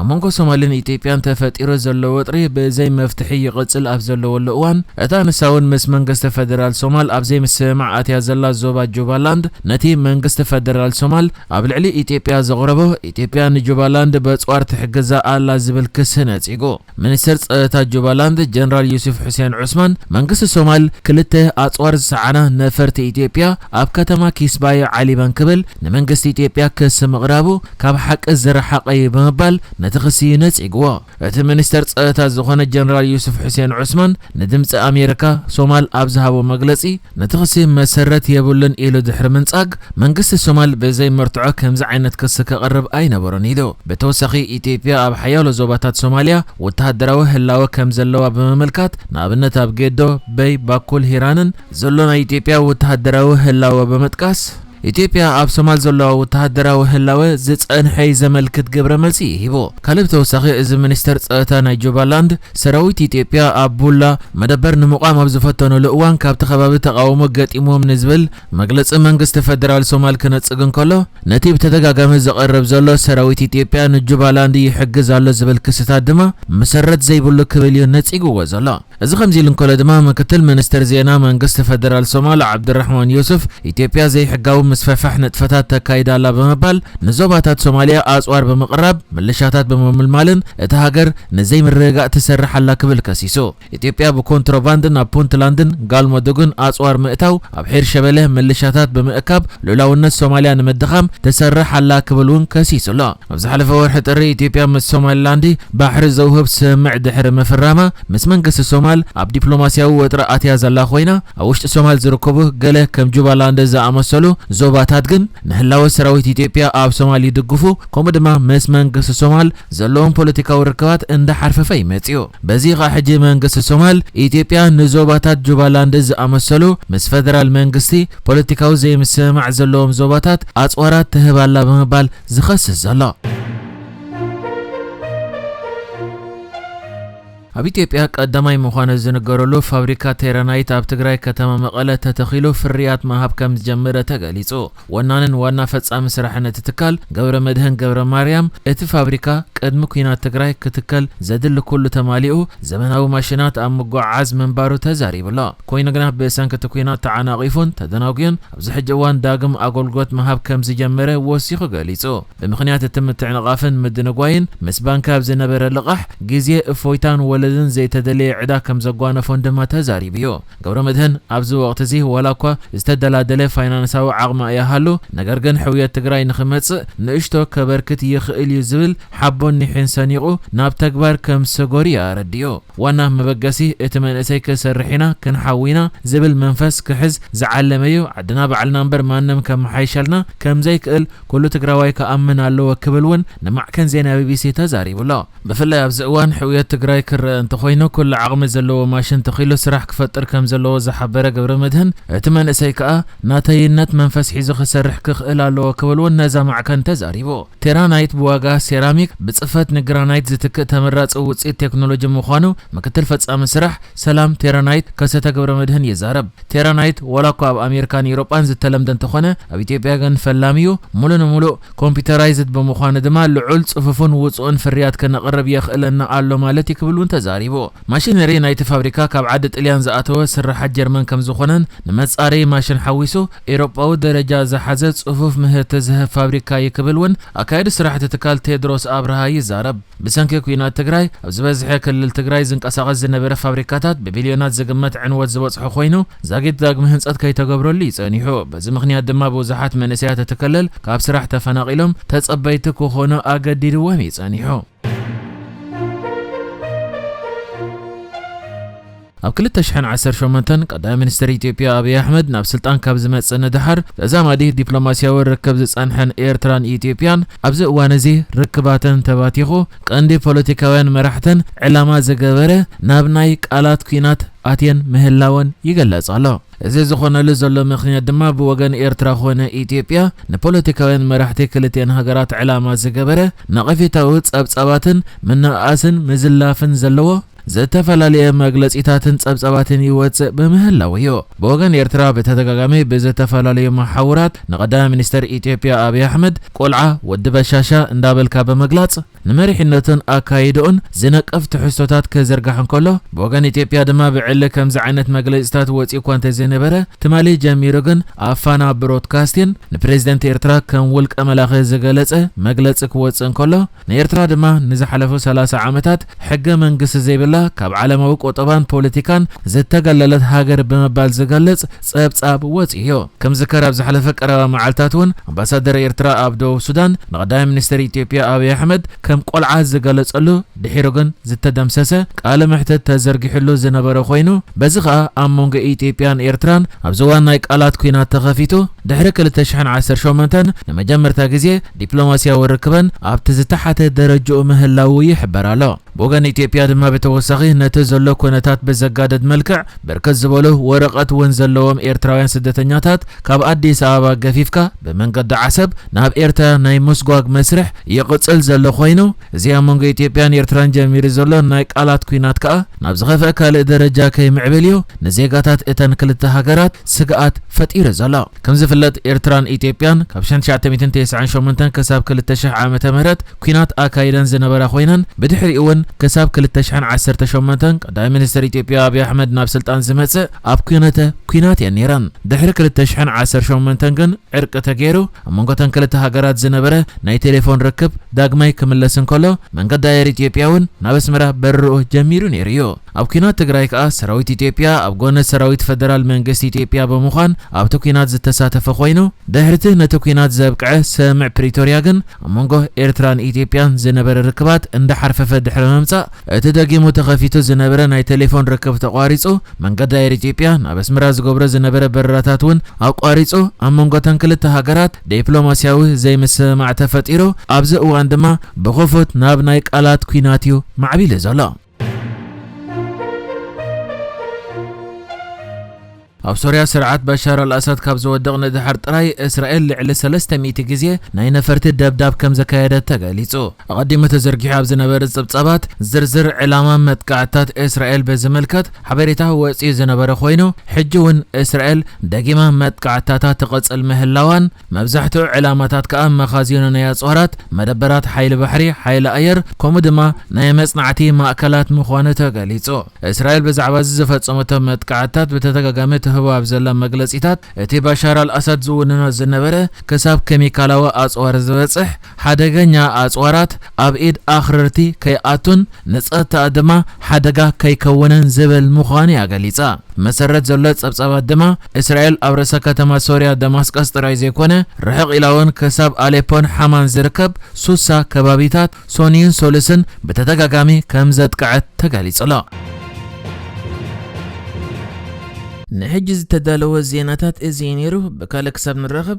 ኣብ መንጎ ሶማልን ኢትዮጵያን ተፈጢሩ ዘሎ ወጥሪ ብዘይ መፍትሒ ይቕጽል ኣብ ዘለወሉ እዋን፣ እታ ንሳውን ምስ መንግስቲ ፈደራል ሶማል ኣብ ዘይምስምማዕ ኣትያ ዘላ ዞባ ጁባላንድ ነቲ መንግስቲ ፈደራል ሶማል ኣብ ልዕሊ ኢትዮጵያ ዘቕረቦ ኢትዮጵያ ንጁባላንድ በጽዋር ትሕግዛ ኣላ ዝብል ክሲ ነጺጉ። ሚኒስተር ጸጥታ ጁባላንድ ጀነራል ዩሱፍ ሑሴን ዑስማን፣ መንግስቲ ሶማል ክልተ ኣጽዋር ዝጸዓና ነፈርቲ ኢትዮጵያ ኣብ ከተማ ኪስባየ ዓሊበን ክብል ንመንግስቲ ኢትዮጵያ ክሲ ምቕራቡ ካብ ሓቂ ዝረሓቐ'ዩ ብምባል ነቲ ክሲ ነጺግዎ። እቲ ሚኒስተር ጸእታ ዝኾነ ጀነራል ዩሱፍ ሑሴን ዑስማን ንድምጺ ኣሜሪካ ሶማል ኣብ ዝሃቦ መግለጺ፣ ነቲ ክሲ መሰረት የብሉን ኢሉ ድሕሪ ምንጻግ፣ መንግስቲ ሶማል ብዘይ መርትዖ ከምዚ ዓይነት ክሲ ከቕርብ ኣይነበሮን ኢሉ። ብተወሳኺ ኢትዮጵያ ኣብ ሓያሎ ዞባታት ሶማልያ ወተሃደራዊ ህላወ ከም ዘለዋ ብምምልካት፣ ንኣብነት ኣብ ጌዶ፣ በይ፣ ባኩል፣ ሂራንን፣ ዘሎ ናይ ኢትዮጵያ ወተሃደራዊ ህላወ ብምጥቃስ፣ ኢትዮጵያ ኣብ ሶማል ዘለዋ ወተሃደራዊ ህላወ ዝጸንሐ'ዩ ዘመልክት ግብረ መልሲ ሂቡ። ካልእ ብተወሳኺ እዚ ሚኒስተር ጸጥታ ናይ ጁባላንድ፣ ሰራዊት ኢትዮጵያ ኣብ ቡላ መደበር ንምቛም ኣብ ዝፈተኑሉ እዋን ካብቲ ከባቢ ተቓውሞ ገጢሙዎም ንዝብል መግለጺ መንግስቲ ፈደራል ሶማል ክነጽግ እንከሎ ነቲ ብተደጋጋሚ ዝቐርብ ዘሎ ሰራዊት ኢትዮጵያ ንጁባላንድ ይሕግዝ ኣሎ ዝብል ክስታት ድማ መሰረት ዘይብሉ ክብል'ዩ ነጺግዎ ዘሎ። እዚ ከምዚ ኢሉ እንከሎ ድማ ምክትል ሚኒስትር ዜና መንግስቲ ፈደራል ሶማል ዓብዱራሕማን ዩሱፍ ኢትዮጵያ ዘይሕጋዊ ምስፍሕፋሕ ንጥፈታት ተካይድ ኣላ ብምባል ንዞባታት ሶማልያ ኣጽዋር ብምቕራብ ምልሻታት ብምምልማልን እታ ሃገር ንዘይምርግጋእ ትሰርሕ ኣላ ክብል ከሲሱ። ኢትዮጵያ ብኮንትሮባንድ ናብ ፑንትላንድን ጋልሞዱግን ኣጽዋር ምእታው ኣብ ሒርሸበለ ምልሻታት ብምእካብ ሉእላውነት ሶማልያ ንምድኻም ትሰርሕ ኣላ ክብል እውን ከሲሱ ኣሎ። ኣብ ዝሓለፈ ወርሒ ጥሪ ኢትዮጵያ ምስ ሶማሊላንድ ባሕሪ ዘውህብ ስምምዕ ድሕሪ ምፍራማ ምስ መንግስቲ ሶማል ኣብ ዲፕሎማስያዊ ወጥሪ ኣትያ ዘላ ኮይና ኣብ ውሽጢ ሶማል ዝርከቡ ገለ ከም ጁባላንድ ዝኣመሰሉ ዞባታት ግን ንህላወ ሰራዊት ኢትዮጵያ ኣብ ሶማል ይድግፉ ከምኡ ድማ ምስ መንግስቲ ሶማል ዘለዎም ፖለቲካዊ ርክባት እንዳሓርፈፈ እዩ መፂኡ በዚ ከዓ ሕጂ መንግስቲ ሶማል ኢትዮጵያ ንዞባታት ጁባላንድ ዝኣመሰሉ ምስ ፈደራል መንግስቲ ፖለቲካዊ ዘይምስምማዕ ዘለዎም ዞባታት ኣፅዋራት ትህብ ኣላ ብምባል ዝኸስስ ዘሎ። ኣብ ኢትዮጵያ ቀዳማይ ምዃኑ ዝንገረሉ ፋብሪካ ቴራናይት ኣብ ትግራይ ከተማ መቐለ ተተኺሉ ፍርያት ምሃብ ከም ዝጀመረ ተገሊጹ። ወናንን ዋና ፈጻሚ ስራሕን እቲ ትካል ገብረመድህን ገብረማርያም፣ እቲ ፋብሪካ ቅድሚ ኲናት ትግራይ ክትከል ዘድሊ ኩሉ ተማሊኡ ዘመናዊ ማሽናት ኣብ ምጉዕዓዝ ምንባሩ ተዛሪቡ'ሎ። ኮይኑ ግና ብሰንኪ እቲ ኲናት ተዓናቒፉን ተደናጉዩን ኣብዚ ሕጂ እዋን ዳግም ኣገልግሎት ምሃብ ከም ዝጀመረ ወሲኹ ገሊጹ። ብምኽንያት እቲ ምትዕንቓፍን ምድንጓይን፣ ምስ ባንኪ ኣብ ዝነበረ ልቓሕ፣ ግዜ፣ እፎይታን ወለድን ዘይተደለየ ዕዳ ከም ዘጓነፎን ድማ ተዛሪቡ'ዩ። ገብረመድህን ኣብዚ ወቕቲ'ዚ ዋላ'ኳ ዝተደላደለ ፋይናንሳዊ ዓቕሚ ኣይሃሉ፣ ነገር ግን ሕውየት ትግራይ ንኽመጽእ ንእሽቶ ከበርክት ይኽእል'ዩ ዝብል ሓቦን ኒሕን ሰኒቑ ናብ ተግባር ከም ዝሰገሩ'ዩ ኣረዲኡ። ዋና መበገሲ እቲ መንእሰይ ክንሰርሕ ኢና ክንሓዊ ኢና ዝብል መንፈስ ክሕዝ ዝዓለመ እዩ ዓድና ባዕልና እምበር ማንም ከመሓይሸልና ከምዘይክእል ኩሉ ትግራዋይ ክኣምን ኣለዎ ክብል እውን ንማዕከን ዜና ቢቢሲ ተዛሪቡ ኣሎ ብፍላይ ኣብዚ እዋን ሕውየት ትግራይ ክረኣ እንተኾይኑ ኩሉ ዓቕሚ ዘለዎ ማሽን ተኺሉ ስራሕ ክፈጥር ከምዘለዎ ዝሓበረ ገብረመድህን እቲ መንእሰይ ከኣ ናተይነት መንፈስ ሒዙ ክሰርሕ ክኽእል ኣለዎ ክብል እውን ነዛ ማዕከን ተዛሪቡ። ቴራናይት ብዋጋ ሴራሚክ ብፅፈት ንግራናይት ዝትክእ ተመራፂ ውፅኢት ቴክኖሎጂ ምዃኑ ምክትል ፈፃሚ ስራሕ ሰላም ቴራናይት ከሰተ ገብረመድህን ይዛረብ። ቴራናይት ዋላ እኳ ኣብ ኣሜሪካን ኢሮጳን ዝተለምደ እንተኾነ ኣብ ኢትዮጵያ ግን ፈላሚ ዩ። ሙሉእ ንሙሉእ ኮምፒተራይዝድ ብምዃኑ ድማ ልዑል ፅፉፉን ውፁእን ፍርያት ከነቕርብ የኽእለና ኣሎ ማለት ዩ ክብል ውን ተዛሪቡ። ማሽነሪ ናይቲ ፋብሪካ ካብ ዓዲ ጥልያን ዝኣተወ ስርሓት ጀርመን ከምዝኾነን ንመፃረዪ ማሽን ሓዊሱ ኤሮጳዊ ደረጃ ዝሓዘ ጽፉፍ ምህርቲ ዝህብ ፋብሪካ እዩ ክብል እውን ኣካያዲ ስራሕቲ ትካል ቴድሮስ ኣብርሃ ይዛረብ። ብሰንኪ ኲናት ትግራይ ኣብ ዝበዝሐ ክልል ትግራይ ዝንቀሳቐስ ዝነበረ ፋብሪካታት ብቢልዮናት ዝግመት ዕንወት ዝበፅሖ ኮይኑ ዛጊት ዳግመ ህንፀት ከይተገብረሉ እዩ ፀኒሑ። በዚ ምኽንያት ድማ ብዙሓት መንእሰያት እቲ ክልል ካብ ስራሕ ተፈናቒሎም ተፀበይቲ ክኾኑ ኣገዲድዎም እዩ ፀኒሑ። ኣብ ክልተ ሽሕን ዓሰርተ ሸሞንተን ቀዳማይ ሚኒስተር ኢትዮጵያ ኣብይ ኣሕመድ ናብ ስልጣን ካብ ዝመጽእ ንደሓር ተዛማዲ ዲፕሎማስያዊ ርክብ ዝጸንሐን ኤርትራን ኢትዮጵያን ኣብዚ እዋን'ዚ ርክባተን ተባቲኹ ቀንዲ ፖለቲካውያን መራሕተን ዕላማ ዝገበረ ናብ ናይ ቃላት ኲናት ኣትየን ምህላወን ይገለጽ ኣሎ። እዚ ዝኾነሉ ዘሎ ምኽንያት ድማ ብወገን ኤርትራ ኮነ ኢትዮጵያ ንፖለቲካውያን መራሕቲ ክልቲኤን ሃገራት ዕላማ ዝገበረ ነቐፌታዊ ጸብጻባትን ምንእኣስን ምዝላፍን ዘለዎ ዝተፈላለየ መግለጺታትን ጸብጻባትን ይወጽእ ብምህላዉ እዩ። ብወገን ኤርትራ ብተደጋጋሚ ብዝተፈላለዩ መሓውራት ንቀዳማይ ሚኒስተር ኢትዮጵያ ኣብይ ኣሕመድ ቆልዓ፣ ወዲ በሻሻ እንዳበልካ ብምግላጽ ንመሪሕነቱን ኣካይዳኡን ዝነቅፍ ትሕዝቶታት ክዝርጋሕ እንከሎ ብወገን ኢትዮጵያ ድማ ብዕሊ ከምዚ ዓይነት መግለጺታት ወጺኡኳ እንተዘይነበረ ትማሊ ጀሚሩ ግን ኣብ ፋና ብሮድካስቲን ንፕረዚደንት ኤርትራ ከም ውልቀ መላኺ ዝገለጸ መግለጺ ክወጽእ እንከሎ ንኤርትራ ድማ ንዝሓለፉ ሰላሳ ዓመታት ሕገ መንግስቲ ዘይብላ ካብ ዓለማዊ ቁጠባን ፖለቲካን ዝተገለለት ሃገር ብምባል ዝገልጽ ጸብጻብ ወጺኡዮ። ከም ዝከር ኣብ ዝሓለፈ ቀረባ መዓልታትውን ኣምባሳደር ኤርትራ ኣብ ደቡብ ሱዳን ንቀዳማይ ሚኒስተር ኢትዮጵያ ኣብይ ኣሕመድ ከም ቆልዓ ዝገለጸሉ ድሒሩ ግን ዝተደምሰሰ ቃለ መሕትት ተዘርጊሑሉ ዝነበረ ኮይኑ በዚ ከኣ ኣብ መንጎ ኢትዮጵያን ኤርትራን ኣብዚ እዋን ናይ ቃላት ኩናት ተኸፊቱ ድሕሪ ክልተ ሽሕን ዓሰርተ ሸሞንተን ንመጀመርታ ግዜ ዲፕሎማሲያዊ ርክበን ኣብቲ ዝተሓተ ደረጅኡ ምህላዉ ይሕበር ኣሎ። ብወገን ኢትዮጵያ ድማ ብተወሳኺ ነቲ ዘሎ ኩነታት ብዘጋደድ መልክዕ ብርክት ዝበሉ ወረቐት ውን ዘለዎም ኤርትራውያን ስደተኛታት ካብ ኣዲስ ኣበባ ገፊፍካ ብመንገዲ ዓሰብ ናብ ኤርትራ ናይ ምስጓግ መስርሕ ይቕጽል ዘሎ ኮይኑ እዚ ኣብ መንጎ ኢትዮጵያን ኤርትራን ጀሚሩ ዘሎ ናይ ቃላት ኩናት ከኣ ናብ ዝኸፍኣ ካልእ ደረጃ ከይምዕብል እዩ ንዜጋታት እተን ክልተ ሃገራት ስግኣት ፈጢሩ ዘሎ። ከም ዝፍለጥ ኤርትራን ኢትዮጵያን ካብ ሽሕን ትሽዓተ ሚእትን ተስዓን ሸሞንተን ክሳብ ክልተ ሽሕ ዓመተ ምህረት ኲናት ኣካይደን ዝነበራ ኮይነን ብድሕሪኡ እውን ክሳብ ክልተ ሽሕን ዓሰርተ ሸሞንተን ቀዳማይ ሚኒስተር ኢትዮጵያ ኣብይ ኣሕመድ ናብ ስልጣን ዝመጽእ ኣብ ኲነተ ኲናት እየን ነይረን። ድሕሪ ክልተ ሽሕን ዓሰርተ ሸሞንተን ግን ዕርቂ ተገይሩ ኣብ መንጎ እተን ክልተ ሃገራት ዝነበረ ናይ ቴሌፎን ርክብ ዳግማይ ክምለስ እንከሎ መንገዲ ኣየር ኢትዮጵያ እውን ናብ ኣስመራ በረርኡ ጀሚሩ ነይሩ እዩ። ኣብ ኲናት ትግራይ ከኣ ሰራዊት ኢትዮጵያ ኣብ ጎነ ሰራዊት ፈደራል መንግስቲ ኢትዮጵያ ብምዃን ኣብቲ ኲናት ዝተሳተፈ ኮይኑ ድሕሪቲ ነቲ ኲናት ዘብቅዐ ሰምዕ ፕሪቶርያ ግን ኣብ መንጎ ኤርትራን ኢትዮጵያን ዝነበረ ርክባት እንዳሓርፈፈ ድሕሪ ምምጻእ እቲ ደጊሙ ተኸፊቱ ዝነበረ ናይ ቴሌፎን ርክብ ተቋሪጹ መንገዲ ኣየር ኢትዮጵያ ናብ ኣስመራ ዝገብሮ ዝነበረ በረራታት እውን ኣቋሪጹ ኣብ መንጎተን ክልተ ሃገራት ዴፕሎማሲያዊ ዘይምስምማዕ ተፈጢሩ ኣብዚ እዋን ድማ ብኽፉት ናብ ናይ ቃላት ኲናት እዩ ማዕቢሉ ዘሎ። ኣብ ሶርያ ስርዓት በሻር ኣልኣሳድ ካብ ዝወድቕ ንድሓር ጥራይ እስራኤል ልዕሊ ሰለስተ ሚእቲ ግዜ ናይ ነፈርቲ ደብዳብ ከም ዘካየደት ተገሊጹ። ኣቐዲሙ ተዘርጊሑ ኣብ ዝነበረ ጸብጻባት ዝርዝር ዕላማ መጥቃዕትታት እስራኤል ብዝምልከት ሓበሬታ ወጺኡ ዝነበረ ኮይኑ፣ ሕጂ እውን እስራኤል ደጊማ መጥቃዕትታታ ትቕጽል ምህላዋን መብዛሕትኡ ዕላማታት ከኣ መኻዚኖ ናይ ኣጽዋራት፣ መደበራት ሓይሊ ባሕሪ፣ ሓይሊ ኣየር፣ ከምኡ ድማ ናይ መጽናዕቲ ማእከላት ምዃኑ ተገሊጹ። እስራኤል ብዛዕባ'ዚ ዝፈጸመቶ መጥቃዕትታት ብተደጋጋሚ ትህቦ ኣብ ዘላ መግለጺታት፣ እቲ ባሻር ኣልኣሳድ ዝውንኖ ዝነበረ ክሳብ ኬሚካላዊ ኣጽዋር ዝበጽሕ፣ ሓደገኛ ኣጽዋራት ኣብ ኢድ ኣኽረርቲ ከይኣቱን ንጸጥታኣ ድማ ሓደጋ ከይከውንን ዝብል ምዃኑ'ያ ገሊጻ። ብመሰረት ዘሎ ጸብጻባት ድማ፣ እስራኤል ኣብ ርእሰ ከተማ ሶርያ ደማስቀስ ጥራይ ዘይኮነ፣ ርሕቕ ኢላ'ውን ክሳብ ኣሌፖን ሓማን ዝርከብ ሱሳ ከባቢታት ሶንይን ሶሉስን ብተደጋጋሚ ከም ዘጥቅዐት ተገሊጹ'ሎ። ንሕጂ ዝተዳለወ ዜናታት እዚ እዩ ነይሩ። ብካልእ ክሳብ ንራኸብ!